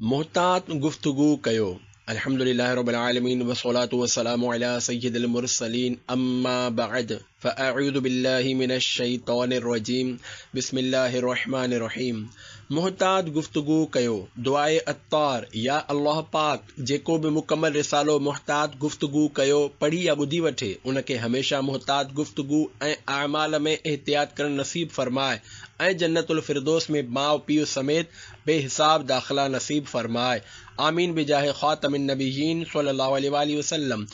محتاط گفتگو ڪيو. الحمد لله رب العالمين والصلاة والسلام علي سيد المرسلين اما بعد فاعوذ بالله من الشيطان الرجيم بسم الله الرحمن الرحيم محتاط گفتگو ڪيو دعائي عطار يا الله پاڪ جيڪو به مڪمل رسالو محتاط گفتگو ڪيو پڙهي يا ٻڌي وٺي ان کي هميشه محتاط گفتگو ۽ اعمال ۾ احتياط ڪرڻ نصيب فرماء ۽ جنت الفردوس ۾ ماء پيء سميت بي حساب داخلا نصيب فرماء آمين بجاھ خاتم النبيين صلي الله عليه واٰله وسلم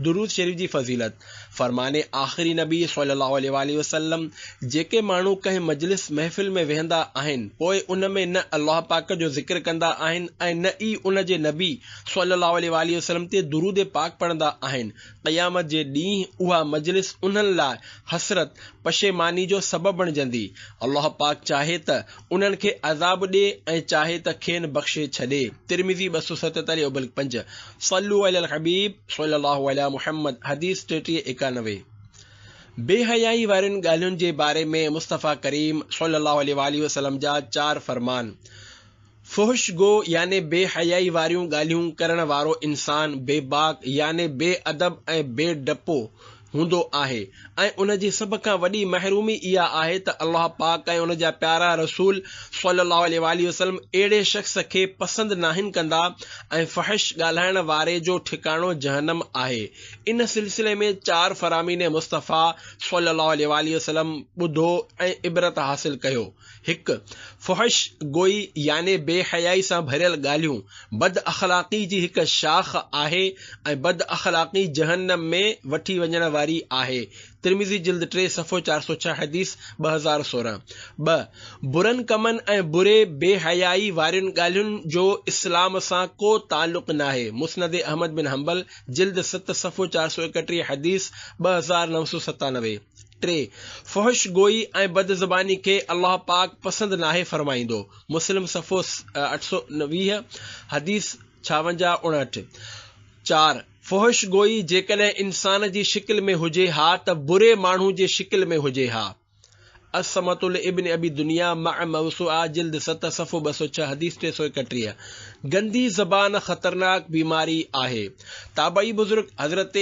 درود شريف جي فضيلت، فرمان آخري نبي صلي الله عليه واٰله وسلم، جيڪي ماڻهو ڪنهن مجلس محفل ۾ ويهندا آهن پوء ان ۾ نه الله پاڪ جو ذڪر ڪندا آهن ۽ نه ئي ان جي نبي صلي الله عليه واٰله وسلم تي درود پاڪ پڙهندا آهن قيامت جي ڏينهن اها مجلس انهن لاء حسرت، پشيماني، جو سبب بڻجندي الله پاڪ چاهي ته انهن کي عذاب ڏي ۽ چاهي ته کين بخشي ڇڏي، ترمذي ٻه سؤ ستيتاليهه ابلڪ پنج، صلو علی الحبيب صلي الله علي محمد، حديث ٽيٽيهه ايڪانوي، بي حيائي وارين ڳالهين جي باري ۾ مصطفيٰ ڪريم صلي الله عليه واٰله وسلم جا چار فرمان، فحش گو يعني بي حيائي واريون ڳالهيون ڪرڻ وارو انسان، بي باڪ يعني بي ادب ۽ بي ڊپو، هوندو آهي ۽ ان جي سڀ کان وڏي محرومي اها آهي ته الله پاڪ ۽ ان جا پيارا رسول صلّي الله عليه واٰله وسلّم اهڙي شخص کي پسند ناهن ڪندا ۽ فحش ڳالهائڻ واري جو ٺڪاڻو جهنم آهي ان سلسلي ۾ چار فرامين مصطفٰي صلّي الله عليه واٰله وسلّم ٻڌو ۽ عبرت حاصل ڪيو. هڪ، فحش گوئي يعني بي حيائي سان ڀريل ڳالهيون بد اخلاقي جي هڪ شاخ آهي ۽ بد اخلاقي جهنم ۾ وٺي وڃڻ واري آهي، ترمذي جلد ٽي صفحو چار سؤ ڇهه حديث ٻه هزار سورهن. ٻه، برن ڪمن ۽ بري بي حيائي وارين ڳالهين جو اسلام سان ڪو تعلق ناهي، مسند احمد بن حنبل جلد ست صفحو چار سؤ ايڪٽيهه حديث ٻه هزار نو سؤ ستانوي. ٽي، فحش گوئي ۽ بد زباني کي الله پاڪ پسند ناهي فرمائيندو، مسلم صفحو اٺ سؤ ويهه، حديث ڇاونجاهه، اڻهٺ، چار، فحش گوئي جيڪڏهن انسان جي شڪل ۾ هجي ها ته بري ماڻهو جي شڪل ۾ هجي ها، الصمة لابن ابي دنيا، مع موسوعه، جلد ست، صفحو ٻه سؤ ڇهه، حديث ٽي سؤ ايڪٽيهه، گندي زبان خطرناڪ بيماري آهي، تابعي بزرگ حضرت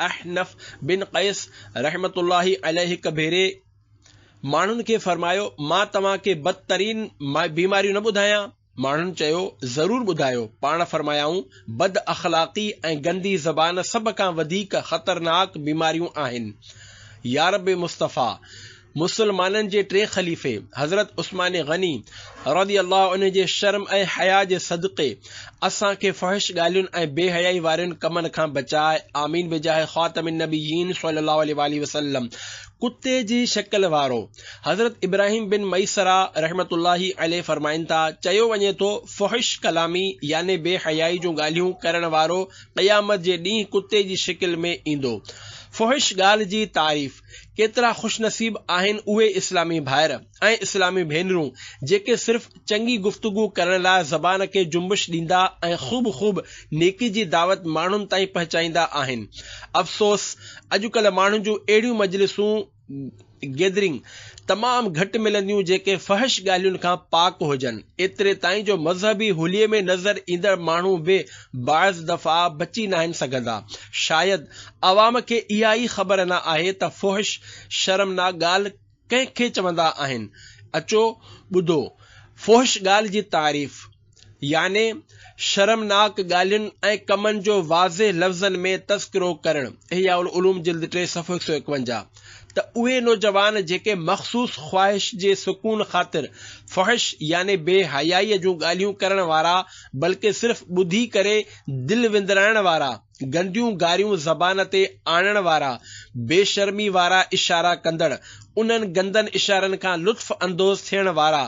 احنف بن قيس، رحمة الله عليه هڪ ڀيري ماڻهن کي فرمايو، مان توهان کي بدترين بيماريون نه ٻڌايان؟ ماڻهن چيو، ضرور ٻڌايو. پاڻ فرمايائون، بد اخلاقي ۽ گندي زبان سڀ کان وڌيڪ خطرناڪ بيماريون آهن. يارب مصطفيٰ! مسلمانن جي ٽئين خليفي حضرت عثمان غني رضي الله عنه جي شرم ۽ حياء جي صدقي اسان کي فحش ڳالهين ۽ بي حيائي وارين ڪمن کان بچائي آمين بجاه خاتم النبيين صلي الله عليه واٰله وسلم ڪتي جي شڪل وارو حضرت ابراهيم بن ميسره رحمة الله عليه فرمائن ٿا چيو وڃي ٿو فحش ڪلامي يعني بي حيائي جون ڳالهيون ڪرڻ وارو قيامت جي ڏينهن ڪتي جي شڪل ۾ ايندو فحش ڳالهه جي تعريف ڪيترا خوش نصيب آهن اهي اسلامي ڀائر ۽ اسلامي ڀينرون جيڪي صرف چڱي گفتگو ڪرڻ لاء زبان کي جنبش ڏيندا ۽ خوب خوب نيڪي جي دعوت ماڻهن تائين پهچائيندا آهن افسوس اڄڪلهه ماڻهن جون اهڙيون مجلسون، Gathering، تمام گهٽ ملنديون جيڪي فحش ڳالهين کان پاڪ هجن ايتري تائين جو مذهبي هوليء ۾ نظر ايندڙ ماڻهو به بعض دفعا بچي ناهن سگهندا شايد عوام کي اها ئي خبر نه آهي ته فحش، شرمناڪ، ڳالهه ڪنهن کي چوندا آهن. اچو ٻڌو، فحش ڳالهه جي تعريف، يعني شرمناڪ ڳالهين ۽ ڪمن جو واضح لفظن ۾ تذڪرو ڪرڻ، احياء العلوم جلد ٽي صفحو هڪ سؤ اڪونجاهه، ته اهي نوجوان جيڪي مخصوص خواهش جي سڪون خاطر فحش يعني بي حيائيء جون ڳالهيون ڪرڻ وارا بلڪه صرف ٻڌي ڪري دل وندرائڻ وارا، گنديون گاريون زبان تي آڻڻ وارا، بيشرمي وارا اشارا ڪندڙ، انهن گندن اشارن کان لطف اندوز ٿيڻ وارا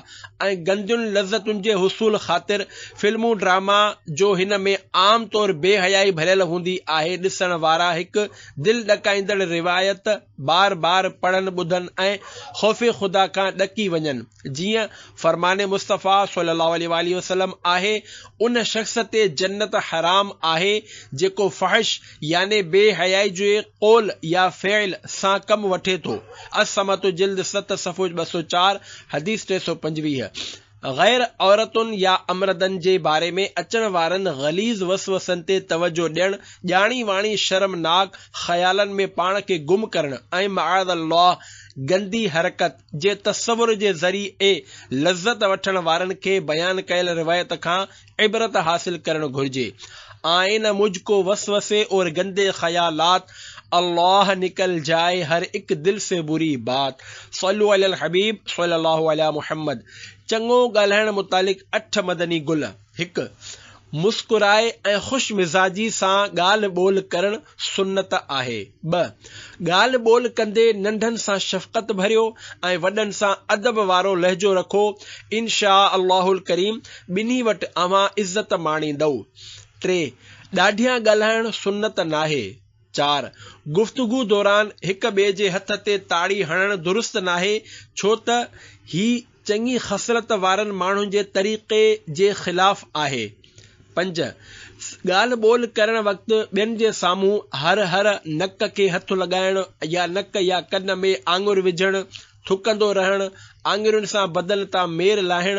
۽ گندين لذتن جي حصول خاطر فلمون ڊراما جو هن ۾ عام طور بي حيائي ڀريل هوندي آهي ڏسڻ وارا هڪ دل ڏڪائيندڙ روايت بار بار پڙهن ٻڌن ۽ خوف خدا کان ڏڪي وڃن. جيئن فرمان مصطفيٰ صلّي اللّٰه عليه واٰله وسلّم آهي، ان شخص تي جنّت حرام آهي، جيڪو فحش يعني بي حيائي جي قول يا فعل سان ڪم وٺي ٿو، الصّمّت جلد ست صفحو ٻه سؤ چار، حديث ٽي سؤ پنجويهه. غير عورتن يا امردن جي باري ۾ اچڻ وارن غليظ وسوسن تي توجه ڏيڻ، ڄاڻي واڻي شرمناڪ خيالن ۾ پاڻ کي گم ڪرڻ ۽ معاذ اللّٰه گندي حرڪت، جي تصور جي ذريعي لذت وٺڻ وارن کي بيان ڪيل روايت کان عبرت حاصل ڪرڻ گهرجي. آئين مجھ ڪو وسوسي اور گندي خيالات الله نڪل جائي هر اک دل سي بري بات صلو علي الحبيب صلي الله علي محمد چڱو ڳالهائڻ متعلق اٺ مدني گل. هڪ، مسڪرائي ۽ خوش مزاجي سان ڳالهه ٻولهه ڪرڻ سنت آهي. ٻه، ڳالهه ٻولهه ڪندي ننڍن سان شفقت ڀريو ۽ وڏن سان ادب وارو لهجو رکو، انشاء الله الڪريم ٻنهي وٽ اوهان عزت ماڻيندؤ. ٽي، ڏاڍيان ڳالهائڻ سنت ناهي. چار، گفتگو دوران هڪ ٻئي جي هٿ تي تاڙي هڻڻ درست ناهي، ڇو ته هي. چڱي خصلت وارن ماڻهن جي طريقي جي خلاف آهي. پنج، ڳالهه ٻولهه ڪرڻ وقت ٻين جي سامهون هر هر نڪ کي هٿ لڳائڻ يا نڪ يا ڪن ۾ آڱر وجهڻ، ٿڪندو رهڻ، آڱرين سان بدن تان مير لاهڻ،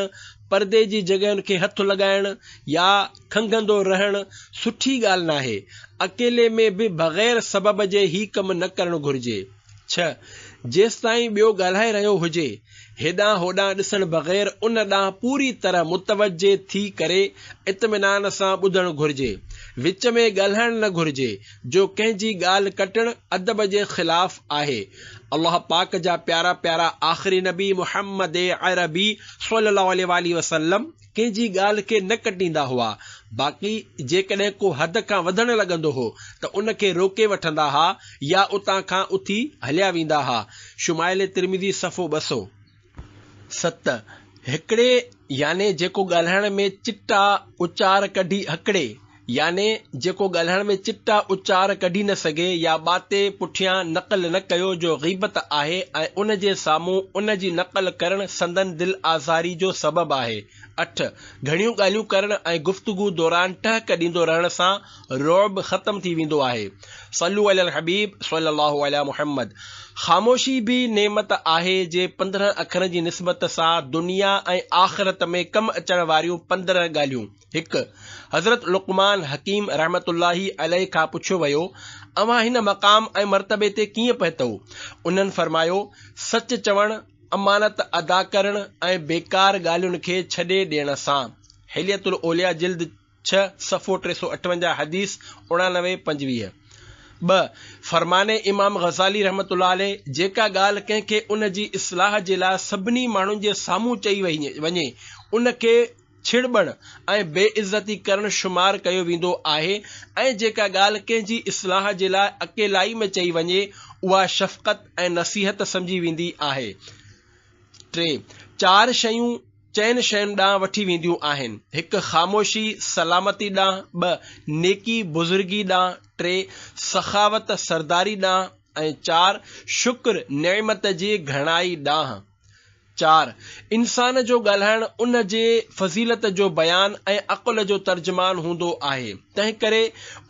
پردي جي جڳهين کي هٿ لڳائڻ يا کنگهندو رهڻ سٺي ڳالهه ناهي. اڪيلي ۾ به بغير سبب جي هي ڪم نه ڪرڻ گهرجي. ڇهه، جيستائين ٻيو ڳالهائي رهيو هجي، هيڏانهن هوڏانهن ڏسڻ بغير ان ڏانهن پوري طرح متوجهه ٿي ڪري اطمينان سان ٻڌڻ گهرجي. وچ ۾ ڳالهائڻ نه گهرجي، جو ڪنهن جي ڳالهه ڪٽڻ ادب جي خلاف آهي. الله پاڪ جا پيارا پيارا آخري نبي محمد عربي صلي الله عليه واٰله وسلم، ڪنهن جي ڳالهه کي نه ڪٽيندا هئا، باقي جيڪڏهن ڪو حد کان وڌڻ لڳندو هو ته ان کي روڪي وٺندا ها يا اتان کان اٿي هليا ويندا ها، شمائل ترمذي صفحو ٻه سؤ ست، هڪڙي يعني جيڪو ڳالهائڻ ۾ چٽا اچار ڪڍي هڪڙي. يعني جيڪو ڳالهائڻ ۾ چٽا اچار ڪڍي نه سگهي يا ٻاتي پٺيان نقل نه ڪيو جو غيبت آهي ۽ ان جي سامهون ان جي نقل ڪرڻ سندن دل آزاري جو سبب آهي. اٺ، گهڻيون ڳالهيون ڪرڻ ۽ گفتگو دوران ٽهڪ ڏيندو رهڻ سان رعب ختم ٿي ويندو آهي. صلو علي الحبيب صلي الله علي محمد خاموشي به نعمت آهي جي پندرهن اکرن جي نسبت سان دنيا ۽ آخرت ۾ ڪم اچڻ واريون پندرهن ڳالهيون هڪ، حضرت لقمان حڪيم رحمة الله عليه کان پڇيو ويو، اوهان هن مقام ۽ مرتبي تي ڪيئن پهتؤ؟ انهن فرمايو، سچ چوڻ، امانت ادا ڪرڻ ۽ بيڪار ڳالهين کي ڇڏي ڏيڻ سان. حلية الاولياء جلد ڇهه صفحو ٽي سؤ اٺونجاهه حديث اڻانوي پنجويهه. ٻه، فرمان امام غزالي رحمة الله عليه، جيڪا ڳالهه ڪنهن کي ان جي اصلاح جي لاء سڀني ماڻهن جي سامهون چئي وڃي، ان کي ڇڙٻڻ ۽ بي عزتي ڪرڻ شمار ڪيو ويندو آهي ۽ جيڪا ڳالهه ڪنهن جي اصلاح جي لاء اڪيلائي ۾ چئي وڃي اها شفقت ۽ نصيحت سمجهي ويندي آهي. ٽي چار شيون چئن شين ڏانهن وٺي وينديون آهن، هڪ خاموشي سلامتي ڏانهن، ٻه نيڪي بزرگي ڏانهن، ٽي سخاوت سرداري ڏانهن ۽ چار شڪر نعمت جي گهڻائي ڏانهن. چار، انسان جو ڳالهائڻ ان جي فضيلت جو بيان ۽ عقل جو ترجمان هوندو آهي، تنهن ڪري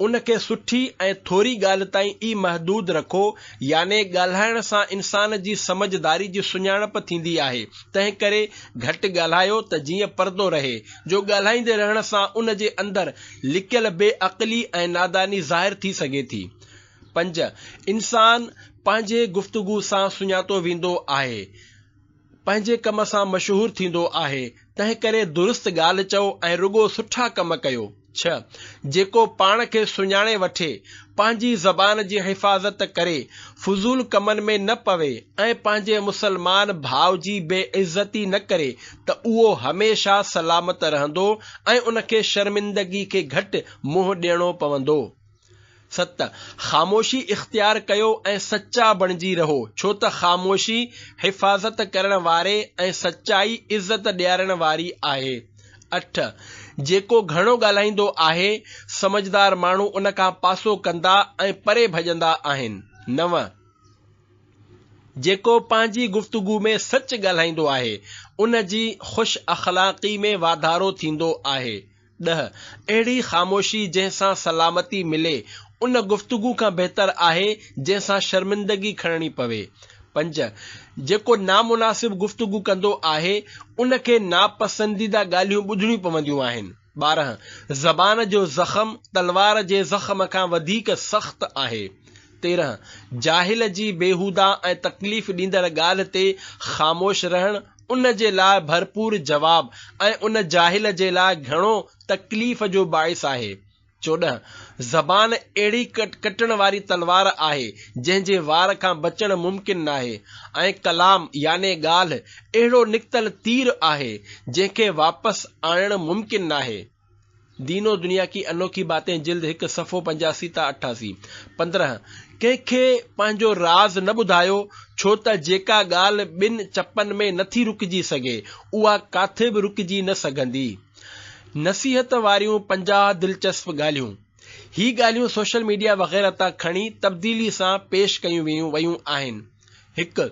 ان کي سٺي ۽ ٿوري ڳالهه تائين ئي محدود رکو، يعني ڳالهائڻ سان انسان جي سمجهه داري جي سڃاڻپ ٿيندي آهي، تنهن ڪري گهٽ ڳالهايو ته جيئن پردو رهي، جو ڳالهائيندي رهڻ سان ان جي اندر لڪيل بي عقلي ۽ ناداني ظاهر ٿي سگهي ٿي. پنج، انسان پنهنجي گفتگو سان سڃاتو ويندو آهي، پنهنجي ڪم سان مشهور ٿيندو آهي، تنهنڪري درست ڳالهه چئو ۽ رڳو سٺا ڪم ڪيو. ڇهه، جيڪو پاڻ کي سڃاڻي وٺي، پنهنجي زبان جي حفاظت ڪري، فضول ڪمن ۾ نه پوي ۽ پنهنجي مسلمان ڀاء جي بي عزتي نه ڪري ته اهو هميشه سلامت رهندو ۽ ان کي شرمندگي کي گهٽ منهن ڏيڻو پوندو. ست، خاموشي اختيار ڪيو ۽ سچا بڻجي رهو، ڇو ته خاموشي حفاظت ڪرڻ واري ۽ سچائي عزت ڏيارڻ واري آهي. اٺ، جيڪو گهڻو ڳالهائيندو آهي، سمجهدار ماڻهو ان کان پاسو ڪندا ۽ پري ڀڄندا آهن. نو، جيڪو پنهنجي گفتگو ۾ سچ ڳالهائيندو آهي، ان جي خوش اخلاقي ۾ واڌارو ٿيندو آهي. ڏهه، اهڙي خاموشي جنهن سان سلامتي ملي، ان گفتگو کان بهتر آهي جنهن سان شرمندگي کڻڻي پوي. پنج، جيڪو نامناسب گفتگو ڪندو آهي، ان کي ناپسنديده ڳالهيون ٻڌڻيون پونديون آهن. ٻارهن، زبان جو زخم تلوار جي زخم کان وڌيڪ سخت آهي. تيرهن، جاهل جي بيهوده ۽ تڪليف ڏيندڙ ڳالهه تي خاموش رهڻ ان جي لاء ڀرپور جواب ۽ ان جاهل جي لاء گهڻو تڪليف جو باعث آهي. چوڏهن، زبان اهڙي ڪٽڻ واري تلوار آهي، جنهن جي وار کان بچڻ ممڪن ناهي ۽ ڪلام يعني ڳالهه اهڙو نڪتل تير آهي، جنهن کي واپس آڻڻ ممڪن ناهي. دين و دنيا ڪي انوکي باتين جلد هڪ صفحو پنجاسي تان اٺاسي، پندرهن، ڪنهن کي پنهنجو راز نه ٻڌايو، ڇو ته جيڪا ڳالهه ٻن چپن ۾ نٿي رڪجي سگهي، اها ڪاٿي به رڪجي نه سگهندي. نصيحت واريون پنجاهه دلچسپ ڳالهيون. هي ڳالهيون سوشل ميڊيا وغيره تان کڻي تبديلي سان پيش ڪيون ويون آهن. هڪ،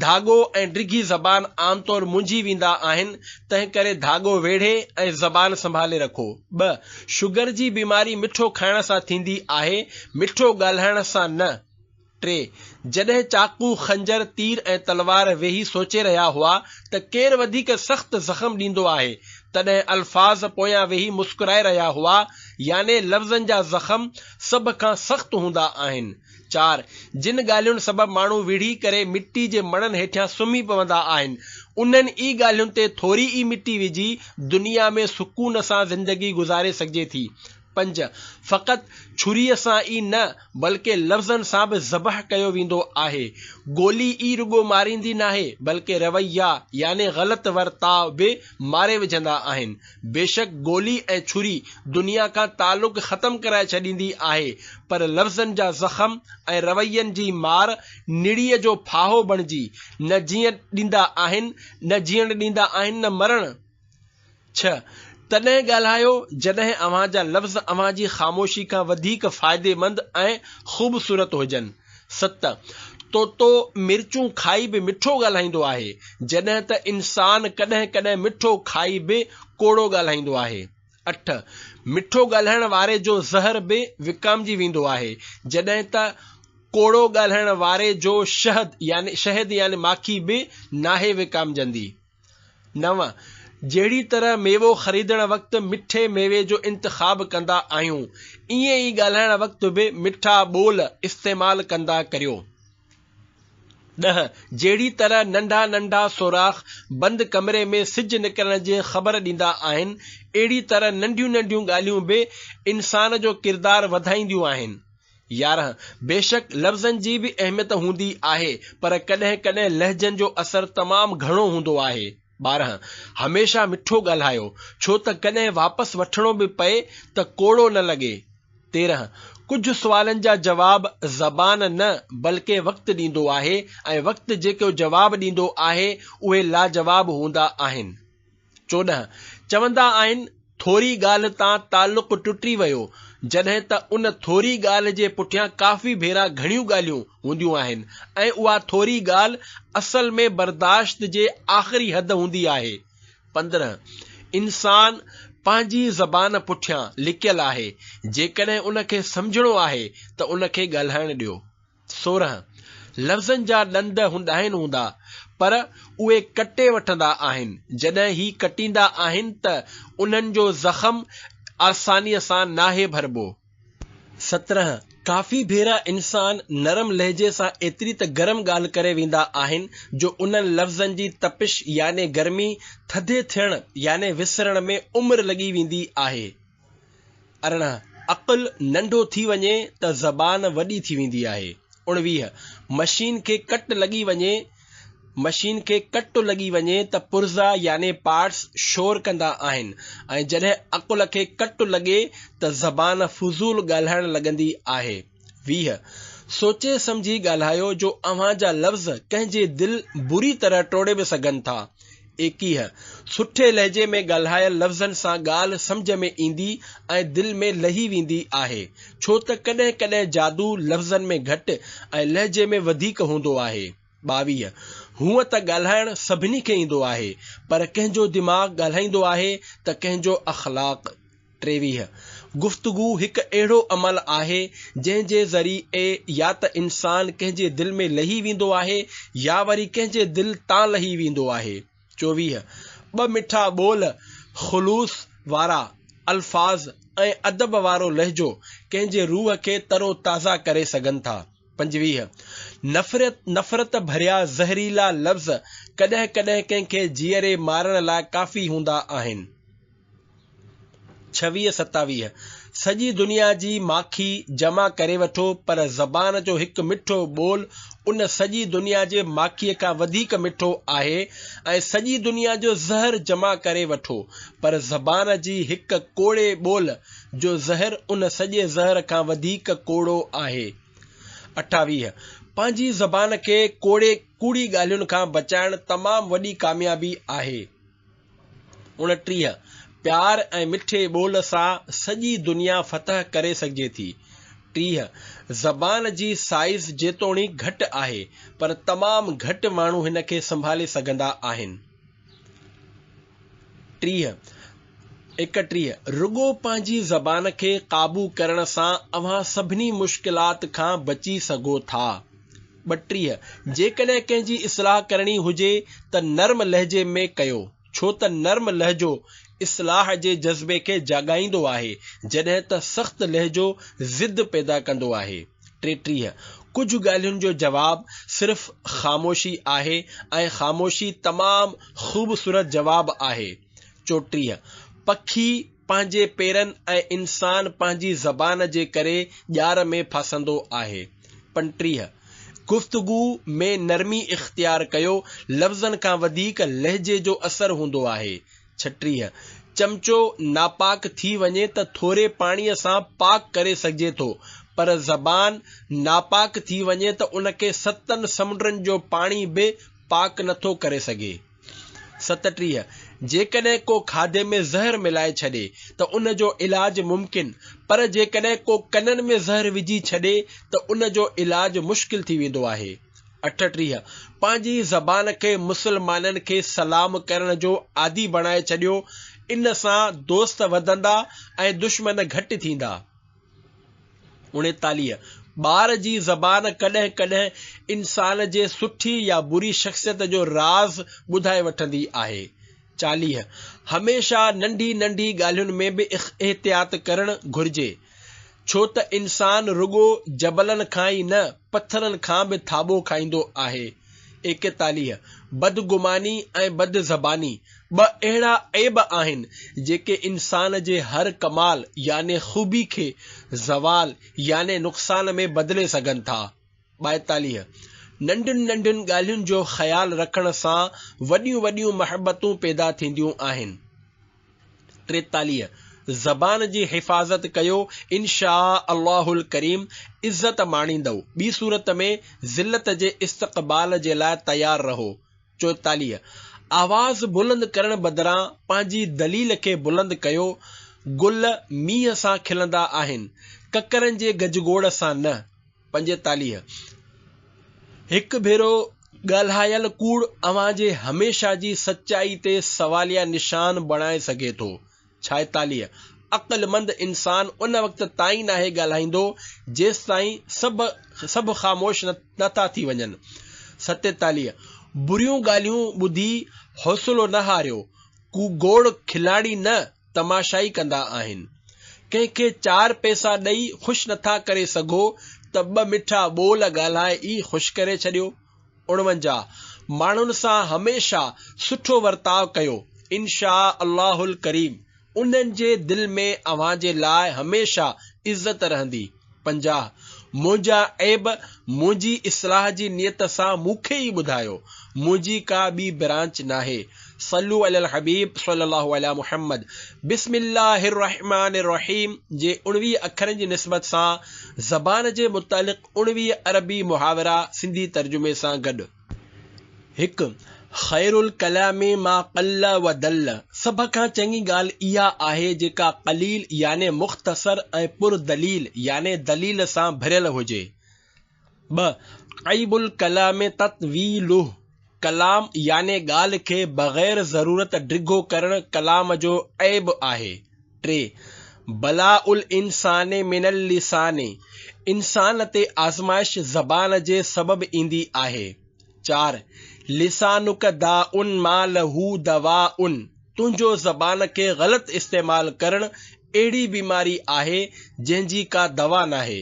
ڌاڳو ۽ ڊگهي زبان عام طور منجهي ويندا آهن، تنهن ڪري ڌاڳو ويڙهي ۽ زبان سنڀالي رکو. ٻه، شگر جي بيماري مٺو کائڻ سان ٿيندي آهي، مٺو ڳالهائڻ سان نه. ٽي، جڏهن چاقو، خنجر، تير ۽ تلوار ويهي سوچي رهيا هئا ته ڪير وڌيڪ سخت زخم ڏيندو آهي، تڏهن الفاظ پويان ويهي مسڪرائي رهيا هئا، يعني لفظن جا زخم سڀ کان سخت هوندا آهن. چار، جن ڳالهين سبب ماڻهو ويڙهي ڪري مٽي جي مڻن هيٺيان سمهي پوندا آهن، انهن ئي ڳالهين تي ٿوري ئي مٽي وجهي دنيا ۾ سڪون سان زندگي گذاري سگهجي ٿي. پنج، فقط ڇريء سان ئي نه، بلڪه لفظن سان به ذبح ڪيو ويندو آهي. گولي ئي رڳو ماريندي ناهي، بلڪه رويا يعني غلط ورتاء به ماري وجهندا آهن. بيشڪ گولي ۽ ڇري دنيا کان تعلق ختم ڪرائي ڇڏيندي آهي، پر لفظن جا زخم ۽ روين جي مار نڙيء جو ڦاهو بڻجي نه جيئڻ ڏيندا آهن، نه جيئڻ ڏيندا آهن نه مرڻ. ڇهه، تڏهن ڳالهايو جڏهن اوهان جا لفظ اوهان جي خاموشي کان وڌيڪ فائديمند ۽ خوبصورت هجن. ست، طوطو مرچون کائي به مٺو ڳالهائيندو آهي، جڏهن ته انسان ڪڏهن ڪڏهن مٺو کائي به ڪوڙو ڳالهائيندو آهي. اٺ، مٺو ڳالهائڻ واري جو زهر به وڪامجي ويندو آهي، جڏهن ته ڪوڙو ڳالهائڻ واري جو شهد يعني شهد يعني ماکي به ناهي وڪامجندي. نو، جهڙي طرح ميوو خريدڻ وقت مٺي ميوي جو انتخاب ڪندا آهيون، ائين ئي ڳالهائڻ وقت به مٺا ٻول استعمال ڪندا ڪريو. ڏهه، جهڙي طرح ننڍا ننڍا سوراخ بند ڪمري ۾ سج نڪرڻ جي خبر ڏيندا آهن، اهڙي طرح ننڍيون ننڍيون ڳالهيون به انسان جو ڪردار وڌائينديون آهن. يارهن، بيشڪ لفظن جي به اهميت هوندي آهي، پر ڪڏهن ڪڏهن لهجن جو اثر تمام گهڻو هوندو آهي. ٻارهن، هميشه مٺو ڳالهايو، ڇو ته ڪڏهن واپس وٺڻو به پئي ته ڪوڙو نه لڳي. تيرهن، ڪجهه سوالن جا جواب زبان نه بلڪه وقت ڏيندو آهي ۽ وقت جيڪو جواب ڏيندو آهي، اهي لاجواب هوندا آهن. چوڏهن، چوندا آهن، ٿوري ڳالهه تان تعلق ٽٽي ويو، جڏهن ته ان ٿوري ڳالهه جي پٺيان ڪافي ڀيرا گهڻيون ڳالهيون هونديون آهن ۽ اها ٿوري ڳالهه اصل ۾ برداشت جي آخري حد هوندي آهي. پندرهن، انسان پنهنجي زبان پٺيان لڪيل آهي، جيڪڏهن ان کي سمجهڻو آهي ته ان کي ڳالهائڻ ڏيو. سورهن لفظن جا ڏند هونداهن هوندا پر اهي ڪٽي وٺندا آهن، جڏهن هي ڪٽيندا آهن ته انهن جو زخم آسانيء سان ناهي ڀربو. سترهن، ڪافي ڀيرا انسان نرم لهجي سان ايتري ته گرم ڳالهه ڪري ويندا آهن جو انهن لفظن جي تپش يعني گرمي ٿڌي ٿيڻ يعني وسرڻ ۾ عمر لڳي ويندي آهي. ارڙهن، عقل ننڍو ٿي وڃي ته زبان وڏي ٿي ويندي آهي. اڻويهه، مشين کي ڪٽ لڳي وڃي مشين کي ڪٽ لڳي وڃي ته پرزا يعني پارٽس شور ڪندا آهن ۽ جڏهن عقل کي ڪٽ لڳي ته زبان فضول ڳالهائڻ لڳندي آهي. ويهه، سوچي سمجهي ڳالهايو جو اوهان جا لفظ ڪنهن جي دل بري طرح ٽوڙي به سگهن ٿا. ايڪيهه، سٺي لهجي ۾ ڳالهايل لفظن سان ڳالهه سمجهه ۾ ايندي ۽ دل ۾ لهي ويندي آهي، ڇو ته ڪڏهن ڪڏهن جادو لفظن ۾ گهٽ ۽ لهجي ۾ وڌيڪ هوندو آهي. ٻاويهه، هونء ته ڳالهائڻ سڀني کي ايندو آهي، پر ڪنهن جو دماغ ڳالهائيندو آهي ته ڪنهن جو اخلاق. ٽيويهه، گفتگو هڪ اهڙو عمل آهي، جنهن جي ذريعي يا ته انسان ڪنهن جي دل ۾ لهي ويندو آهي يا وري ڪنهن جي دل تان لهي ويندو آهي. چوويهه، ٻه مٺا ٻول، خلوص وارا الفاظ ۽ ادب وارو لهجو ڪنهن جي روح کي تر و تازه ڪري سگهن ٿا. پنجويهه، نفرت، نفرت ڀريا زهريلا لفظ ڪڏهن ڪڏهن ڪنهن کي جيئري مارڻ لاء ڪافي هوندا آهن. ڇويهه، ستاويهه، سڄي دنيا جي ماکي جمع ڪري وٺو پر زبان جو هڪ مٺو ٻول ان سڄي دنيا جي ماکيء کان وڌيڪ مٺو آهي ۽ سڄي دنيا جو زهر جمع ڪري وٺو پر زبان جي هڪ ڪوڙي ٻول جو زهر ان سڄي زهر کان وڌيڪ ڪوڙو آهي. اٺاويهه، پنهنجي زبان کي ڪوڙي، ڪوڙي ڳالهين کان بچائڻ تمام وڏي ڪاميابي آهي. اڻٽيهه، پيار ۽ مٺي ٻول سان سڄي دنيا فتح ڪري سگهجي ٿي. ٽيهه، زبان جي سائيز جيتوڻيڪ گهٽ آهي، پر تمام گهٽ ماڻهو هن کي سنڀالي سگهندا آهن. ٽيهه، ايڪٽيهه، رڳو پنهنجي زبان کي قابو ڪرڻ سان اوهان سڀني مشڪلات کان بچي سگهو ٿا. ٻٽيهه، جيڪڏهن ڪنهن جي اصلاح ڪرڻي هجي ته نرم لهجي ۾ ڪيو، ڇو ته نرم لهجو اصلاح جي جذبي کي جاڳائيندو آهي، جڏهن ته سخت لهجو ضد پيدا ڪندو آهي. ٽيٽيهه، ڪجهه ڳالهين جو جواب صرف خاموشي آهي ۽ خاموشي تمام خوبصورت جواب آهي. چوٽيهه، پکي پنهنجي پيرن ۽ انسان پنهنجي زبان جي ڪري ڄار ۾ ڦاسندو آهي. پنٽيهه، گفتگو ۾ نرمي اختيار ڪيو، لفظن کان وڌيڪ لهجي جو اثر هوندو آهي. ڇٽيهه، چمچو ناپاڪ ٿي وڃي ته ٿوري پاڻيء سان پاڪ ڪري سگهجي ٿو، پر زبان ناپاڪ ٿي وڃي ته ان کي ستن سمنڊن جو پاڻي به پاڪ نه ٿو ڪري سگهي. ستٽيهه، جيڪڏهن ڪو کاڌي ۾ زهر ملائي ڇڏي ته ان جو علاج ممڪن، پر جيڪڏهن ڪو ڪنن ۾ زهر وجهي ڇڏي ته ان جو علاج مشڪل ٿي ويندو آهي. اٺٽيهه، پنهنجي زبان کي مسلمانن کي سلام ڪرڻ جو عادي بڻائي ڇڏيو، ان سان دوست وڌندا ۽ دشمن گهٽ ٿيندا. اڻيتاليهه، ٻار جي زبان ڪڏهن ڪڏهن انسان جي سٺي يا بري شخصيت جو راز ٻڌائي وٺندي آهي، چاليهه، هميشه ننڍي ننڍي ڳالهين ۾ به احتياط ڪرڻ گهرجي، ڇو ته انسان رڳو جبلن کان ئي نه، پٿرن کان به ٿاٻو کائيندو آهي. ايڪيتاليهه، بدگماني ۽ بدزباني ٻه اهڙا عيب آهن، جيڪي انسان جي هر ڪمال يعني خوبي کي زوال يعني نقصان ۾ بدلي سگهن ٿا. ٻائيتاليهه، ننڍين ننڍين ڳالهين جو خيال رکڻ سان وڏيون وڏيون محبتون پيدا ٿينديون آهن. ٽيتاليهه، زبان جي حفاظت ڪيو انشاء الله الڪريم عزت ماڻيندؤ، ٻي صورت ۾ ذلت جي استقبال جي لاء تيار رهو. چوئيتاليهه، آواز بلند ڪرڻ بدران پنهنجي دليل کي بلند ڪيو، گل مينهن سان کلندا آهن، ڪڪرن جي گجگوڙ سان نه. پنجيتاليهه، هڪ ڀيرو ڳالهايل ڪوڙ اوهان جي هميشه جي سچائي تي سواليه نشان بڻائي سگهي ٿو. ڇائيتاليهه، عقلمند انسان ان وقت تائين ناهي ڳالهائيندو جيستائين سڀ سڀ خاموش نه ٿا ٿي وڃن. ستيتاليهه، بريون ڳالهيون ٻڌي حوصلو نه هاريو، ڪو گوڙ کلاڻي نه، تماشائي ڪندا آهن. ڪنهن کي چار پئسا ڏئي خوش نٿا ڪري سگهو ته ٻه مٺا ٻول ڳالهائي ئي خوش ڪري ڇڏيو. اڻونجاهه، ماڻهن سان هميشه سٺو ورتاء ڪيو، انشاء الله الڪريم انهن جي دل ۾ اوهان جي لاء هميشه عزت رهندي. پنجاهه، منهنجا عيب منهنجي اصلاح جي نيت سان مون کي ئي ٻڌايو، منهنجي ڪا ٻي برانچ ناهي. صلو علي الحبيب صلي الله علي محمد بسم الله الرحمٰن الرحيم جي اڻويهه اکرن جي نسبت سان زبان جي متعلق اڻويهه عربي محاورا سنڌي ترجمي سان گڏ. هڪ، خير الڪلام ما قل و دل، سڀ کان چڱي ڳالهه اها آهي جيڪا قليل يعني مختصر ۽ پر دليل يعني دليل سان ڀريل هجي. ٻه، عيب الڪلام تطويله، ڪلام يعني ڳالهه کي بغير ضرورت ڊگهو ڪرڻ ڪلام جو عيب آهي. ٽي، بلاء الانسان من اللسان، انسان تي آزمائش زبان جي سبب ايندي آهي. چار، لسانک داء ما له دواء، تنهنجو زبان کي غلط استعمال ڪرڻ اهڙي بيماري آهي جنهن جي ڪا دوا ناهي.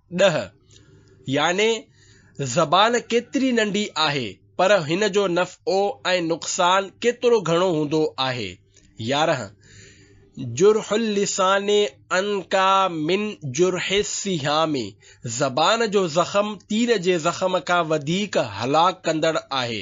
ڏهه، يعني زبان ڪيتري ننڍي آهي، پر هن جو نفعو ۽ نقصان ڪيترو گهڻو هوندو آهي. يارهن، جرح اللسان انڪا من جرح السهام، زبان جو زخم تير جي زخم کان وڌيڪ هلاڪ ڪندڙ آهي.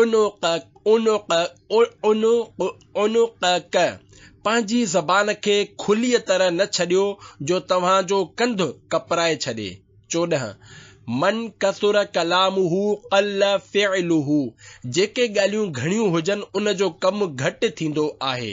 عنقڪ پنهنجي زبان کي کليء طرح نه ڇڏيو جو توهان جو ڪنڌ ڪپرائي ڇڏي. چوڏهن، من ڪثر ڪلامه قل فعله جيڪي ڳالهيون گهڻيون هجن ان جو ڪم گهٽ ٿيندو آهي.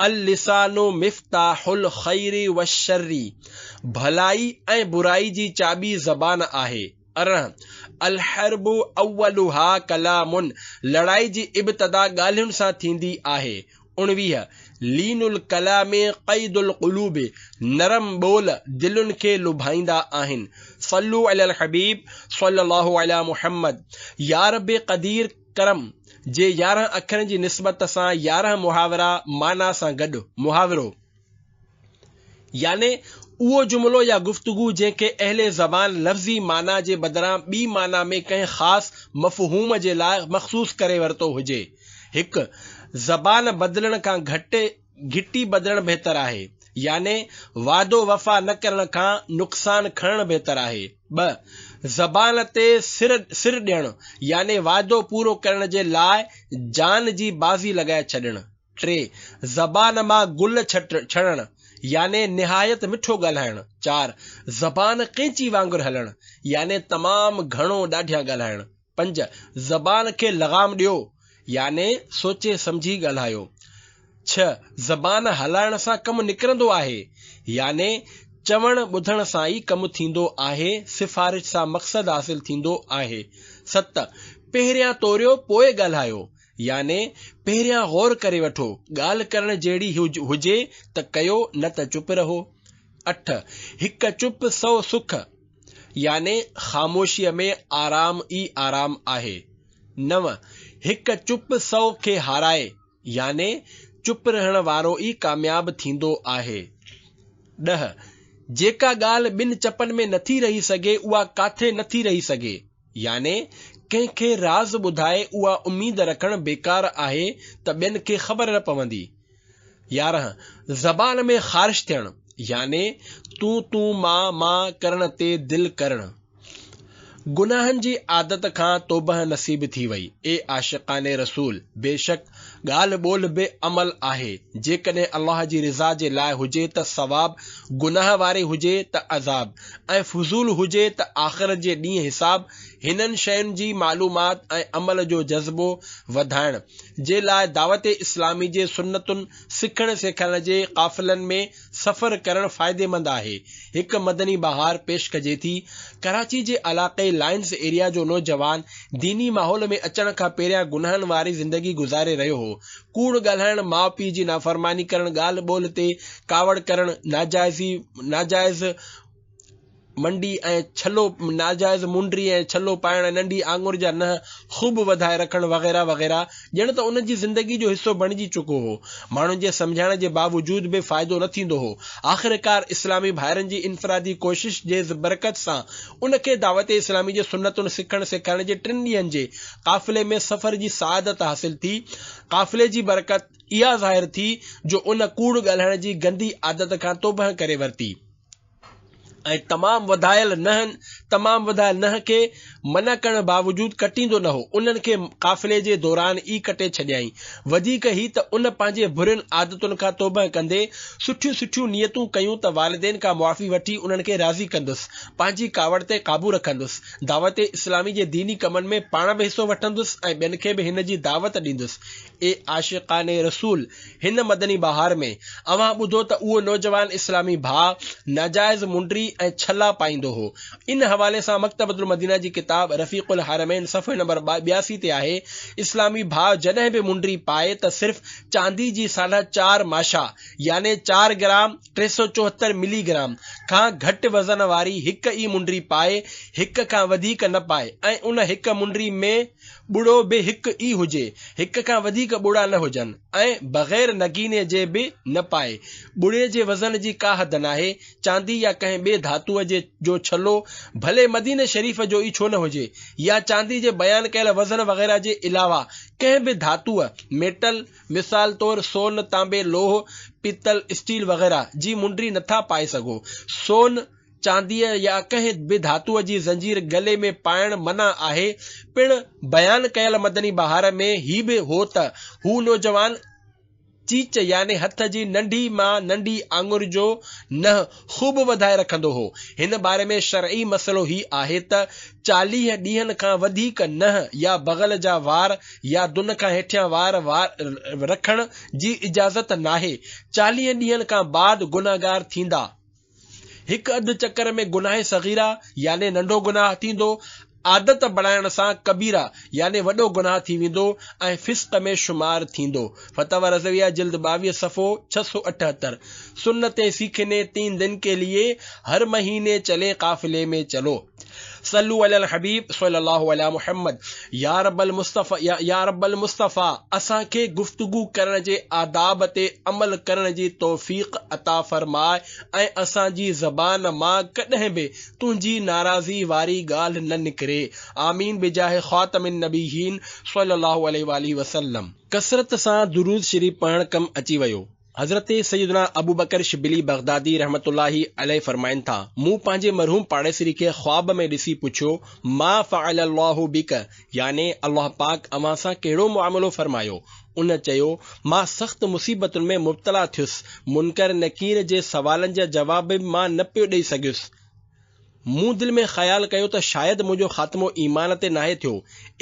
اللسان مفتاح الخير والشر، ڀلائي ۽ برائي جي چاٻي زبان آهي. ارڙهن، الحرب اولها ڪلام، لڙائي جي ابتدا ڳالهين سان ٿيندي آهي. اڻويهه، لين الڪلام قيد القلوب، نرم ٻول دلين کي لڀائيندا آهن. صلو علي الحبيب صلّي الله علي محمّد، يارب قدير! ڪرم، جي يارهن اکرن جي نسبت سان يارهن محاورا معنيٰ سان گڏ، محاورو، يعني اهو جملو يا گفتگو جنهن کي اهل زبان لفظي معنيٰ جي بدران ٻي معنيٰ ۾ ڪنهن خاص مفهوم جي لاء مخصوص ڪري ورتو هجي. هڪ، زبان بدلڻ کان گهٽ گهٽي ٻڌڻ بهتر آهي يعني وعدو وفا نه ڪرڻ کان نقصان کڻڻ بهتر آهي. ٻه، زبان تي سر سر ڏيڻ يعني وعدو پورو ڪرڻ جي لاء جان جي بازي لڳائي ڇڏڻ. ٽي، زبان مان گل ڇٽ ڇڻڻ يعني نهايت مٺو ڳالهائڻ. چار، زبان قينچي وانگر هلڻ يعني تمام گهڻو ڏاڍيان ڳالهائڻ. پنج، زبان کي لغام ڏيو يعني سوچي سمجهي ڳالهايو. ڇهه، زبان هلائڻ سان ڪم نڪرندو آهي يعني چوڻ ٻڌڻ سان ئي ڪم ٿيندو آهي، سفارش سان مقصد حاصل ٿيندو آهي. ست، پهريان توريو پوء ڳالهايو يعني پهريان غور ڪري وٺو، ڳالهه ڪرڻ جهڙي هجي ته ڪيو نه ته چپ رهو. اٺ، هڪ چپ سؤ سک. يعني خاموشيء ۾ آرام ئي آرام آهي. نو، هڪ چپ سؤ کي هارائي، يعني چپ رهڻ وارو ئي ڪامياب ٿيندو آهي. ڏهه، جيڪا ڳالهه ٻن چپن ۾ نٿي رهي سگهي اها ڪاٿي نٿي رهي سگهي، يعني ڪنهن کي راز ٻڌائي اها اميد رکڻ بيڪار آهي ته ٻين کي خبر نه پوندي. يارهن، زبان ۾ خارش ٿيڻ يعني تون تون مان مان ڪرڻ تي دل ڪرڻ. گناهن جي عادت کان توبهه نصيب ٿي وئي. اي عاشقان رسول! بيشڪ ڳالهه ٻولهه به عمل آهي. جيڪڏهن الله جي رضا جي لاء هجي ته ثواب، گناهه واري هجي ته عذاب ۽ فضول هجي ته آخرت جي ڏينهن حساب، هنن شين جي معلومات ۽ عمل جو جذبو وڌائڻ جي لاء دعوت اسلامي جي سنتن سکڻ سيکارڻ جي قافلن ۾ سفر ڪرڻ فائديمند آهي. هڪ مدني بهار پيش ڪجي ٿي. ڪراچي جي علاقي لائنز ايريا جو نوجوان ديني ماحول ۾ اچڻ کان پهريان گناهن واري زندگي گذاري رهيو هو. ڪوڙ ڳالهائڻ، ماء پيء جي نافرماني ڪرڻ، ڳالهه ٻولهه تي ڪاوڙ ڪرڻ، ناجائزي ناجائز، منڊي ۽ ڇلو ناجائز مونڊري ۽ ڇلو پائڻ، ننڍي آڱر جا ننهن خوب وڌائي رکڻ وغيره وغيره ڄڻ ته ان جي زندگي جو حصو بڻجي چڪو هو. ماڻهن جي سمجهائڻ جي باوجود به فائدو نه ٿيندو هو. آخرڪار اسلامي ڀائرن جي انفرادي ڪوشش جي برڪت سان ان کي دعوت اسلامي جي سنتون سکڻ سيکارڻ جي ٽن ڏينهن جي قافلي ۾ سفر جي سعادت حاصل ٿي. قافلي جي برڪت اها ظاهر ٿي جو ان ڪوڙ ڳالهائڻ جي گندي عادت کان توبهه ڪري ورتي. ۽ تمام وڌايل نهن تمام وڌايل نهن کي منع ڪرڻ باوجود ڪٽيندو نه هو، انهن کي قافلي جي دوران ئي ڪٽي ڇڏيائين. وڌيڪ هي ته ان پنهنجي برين عادتن کان توبهه ڪندي سٺيون سٺيون نيتون ڪيون ته والدين کان معافي وٺي انهن کي راضي ڪندس، پنهنجي ڪاوڙ تي قابو رکندس، دعوت اسلامي جي ديني ڪمن ۾ پاڻ به حصو وٺندس ۽ ٻين کي به هن جي دعوت ڏيندس، اي عاشقان رسول! هن مدني بهار ۾ اوهان ٻڌو ته اهو نوجوان اسلامي ڀاء ناجائز منڊري ۽ ڇلا پائيندو هو. ان حوالي سان مڪتبة المدينه جي ڪتاب رفيق الحرمين صفحي نمبر ٻياسي تي آهي، اسلامي ڀاء جڏهن به منڊري پائي ته صرف چاندي جي ساڍا چار ماشا يعني چار گرام، ٽي سؤ چوهتر ملي گرام، کان گهٽ وزن واري هڪ ئي منڊري پائي، هڪ کان وڌيڪ نه پائي ۽ ان هڪ منڊري ۾. ٻڙو به هڪ ئي هجي، هڪ کان وڌيڪ ٻڙا نه هجن ۽ بغير نگيني جي به نه پائي. ٻڙي جي وزن جي ڪا حد ناهي، چاندي يا ڪنهن ٻئي ڌاتوء جي جو ڇلو ڀلي مديني شريف جو ئي ڇو نه هجي يا چاندي جي بيان ڪيل وزن وغيره جي علاوه ڪنهن به ڌاتوء، ميٽل، مثال طور سون، تانبي، لوهه، پيتل، اسٽيل وغيره، جي منڊري نه ٿا پائي سگهو. سون. چانديء يا ڪنهن به ڌاتوء جي زنجير گلي ۾ پائڻ منع آهي. پڻ بيان ڪيل مدني بهار ۾ هي به هو ته هو نوجوان چيچ يعني هٿ جي ننڍي مان ننڍي آڱر جو ننهن خوب وڌائي رکندو هو. هن باري ۾ شرعي مسئلو هي آهي ته چاليهه ڏينهن کان وڌيڪ ننهن يا بغل جا وار يا دن کان هيٺيان وار رکڻ جي اجازت ناهي. چاليهن ڏينهن کان بعد گنهگار ٿيندا. هڪ اڌ چڪر ۾ گناهه صغيره يعني ننڍو گناهه ٿيندو، عادت بڻائڻ سان ڪبيره يعني وڏو گناهه ٿي ويندو ۽ فسق ۾ شمار ٿيندو. فتاويٰ رضويه جلد ٻاويهه صفحو ڇهه سؤ اٺهتر، سنتين سيکني تين دن ڪي ليي هر مهيني چلي قافلي ۾ چلو. صلو علي الحبيب صلي الله علي محمد يا رب المصطفي يا رب المصطفي اسان کي گفتگو ڪرڻ جي آداب تي عمل ڪرڻ جي توفيق عطا فرماء ۽ اسان جي زبان مان ڪڏهن به تنهنجي ناراضي واري ڳالهه نه نڪري آمين بجاه خاتم النبيين صلي الله عليه واٰله وسلم. ڪثرت سان درود شريف پڙهڻ ڪم اچي ويو. حضرت سيدنا ابوبڪر شبلي بغدادي رحمة الله عليه فرمائن ٿا، مون پنهنجي مرحوم پاڙيسري کي خواب ۾ ڏسي پڇيو، ما فعل الله بك؟ يعني الله پاڪ اوهان سان ڪهڙو معاملو فرمايو؟ ان چيو، مان سخت مصيبتن ۾ مبتلا ٿيس، منڪر نڪير جي سوالن جا جواب به مان نه پيو ڏئي سگهيس، مون دل ۾ خيال ڪيو ته شايد منهنجو خاتمو ايمان تي ناهي ٿيو.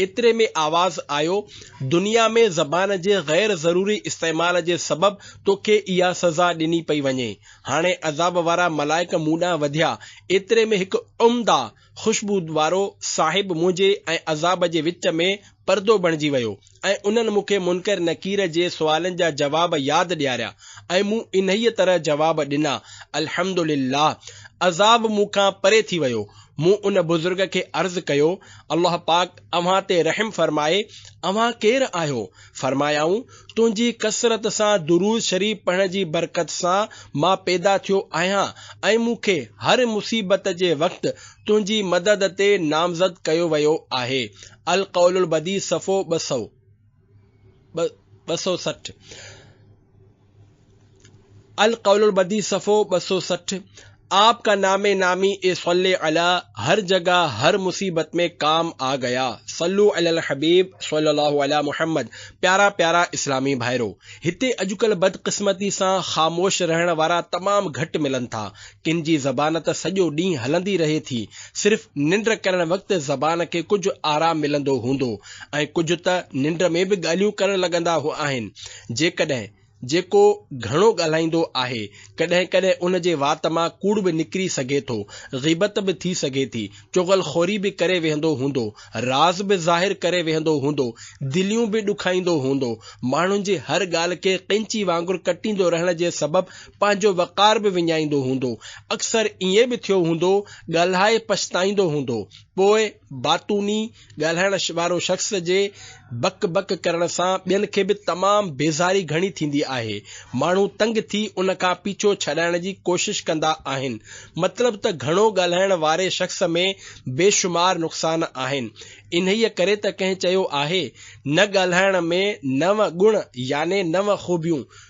ايتري ۾ آواز آيو، دنيا ۾ زبان جي غير ضروري استعمال جي سبب توکي اها سزا ڏني پئي وڃي. هاڻي عذاب وارا ملائڪ مون ڏانهن وڌيا. ايتري ۾ هڪ عمده خوشبو وارو صاحب منهنجي ۽ عذاب جي وچ ۾ پردو بڻجي ويو. ۽ انهن مون کي منڪر نڪير جي سوالن جا جواب ياد ڏياريا ۽ مون انهيء طرح جواب ڏنا، الحمد لله! عذاب مون کان پري ٿي ويو. مون ان بزرگ کي عرض ڪيو، الله پاڪ اوهان تي رحم فرمائي، اوهان ڪير آهيو؟ فرمايائون، تنهنجي ڪثرت سان درود شريف پڙهڻ جي برڪت سان مان پيدا ٿيو آهيان ۽ مون کي هر مصيبت جي وقت تنهنجي مدد تي نامزد ڪيو ويو آهي. القول البديع صفحو ٻه سؤ ٻه سؤ سٺ القول البديع صفحو ٻه سؤ سٺ آپ ڪا نام نامي اي صلي علی هر جگا هر مصيبت مين ڪام آ گيا صلو علی الحبيب صلي الله علي محمد پيارا پيارا اسلامي ڀائرو هتي اڄڪلهه بدقسمتي سان خاموش رهڻ وارا تمام گهٽ ملن ٿا ڪن جي زبان ته سڄو ڏينهن هلندي رهي ٿي، صرف ننڊ ڪرڻ وقت زبان کي ڪجهه آرام ملندو هوندو ۽ ڪجهه ته ننڊ ۾ به ڳالهيون ڪرڻ لڳندا هو آهن، جيڪڏهن جيڪو گهڻو ڳالهائيندو آهي، ڪڏهن ڪڏهن ان جي وات مان ڪوڙ به نڪري سگهي ٿو، غيبت به ٿي سگهي ٿي، چغل خوري به ڪري ويهندو هوندو، راز به ظاهر ڪري ويهندو هوندو، دليون به ڏکائيندو هوندو، ماڻهن جي هر ڳالهه کي قينچي وانگر ڪٽيندو رهڻ جي سبب پنهنجو وقار به وڃائيندو هوندو. اڪثر ائين به ٿيو هوندو، ڳالهائي پڇتائيندو هوندو. پوء باتوني، ڳالهائڻ وارو شخص جي بڪ بڪ ڪرڻ سان ٻين کي به تمام بيزاري گهڻي ٿيندي آهي. ماڻهو تنگ ٿي ان کان پيڇو ڇڏائڻ جي ڪوشش ڪندا آهن. مطلب ته گهڻو ڳالهائڻ واري شخص ۾ بيشمار نقصان آهن. انهيء ڪري ته ڪنهن چيو آهي، نه ڳالهائڻ ۾ نو ڳڻ يعني نو خوبيون.